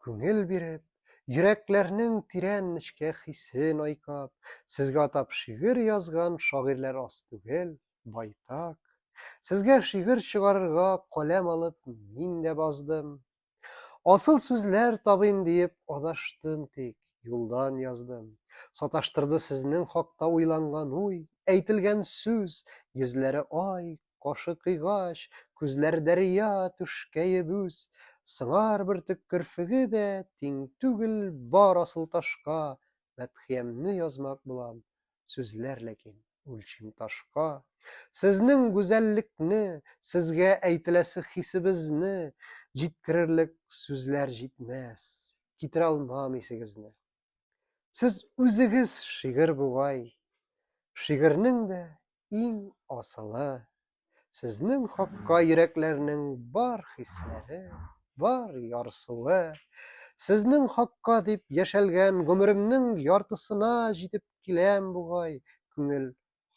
күңел биреп, йөрәкләрнең тирән нечкә хисен айкап, сезгә атап шигырь язган шагыйрьләр аз түгел, байтак. Сезгә шигырь чыгарырга каләм алып мин дә баздым. Асыл сүзләр табыйм диеп адаштым тик, юлдан яздым. Саташтырды сезнең хакта уйланган уй, әйтелгән сүз, йөзләре ай, Кашы кыйгач, күзләр дәрья түшкәеп үз, Сыңар бөртек керфеге дә тиң түгел бар асыл ташка, Мәдхиямне язмак булам, сүзләр ләкин үлчим ташка. Сезнең гүзәллекне, сезгә әйтеләсе хисебезне Җиткерерлек сүзләр җитмәс, китерә алмам исегезне. Сез үзегез шигырь бугай. Шигырьнең дә иң асылы. Сезнең хакка йөрәкләрнең бар хисләре, бар ярсуы. Сезнең хакка дип яшәлгән гомеремнең яртысына җитеп киләм бугай, күңел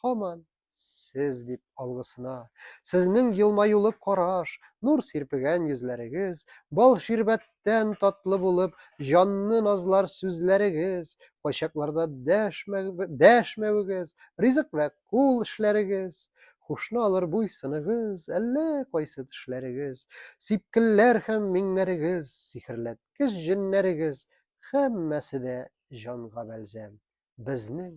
һаман Сез дип алгысына. Сезнең елмаюлы караш, нур сирпегән йөзләрегез, бал ширбәттән татлы булып, җанны назлар сүзләрегез, кайчакларда дәшмәвегез, ризык вә кул эшләрегез, хушны алыр буйсыныгыз, әллә кайсы тешләрегез, сипкелләр һәм миңнәрегез, сихерләткеч җеннәрегез, һәммәсе дә җанга бәлзәм. Безнең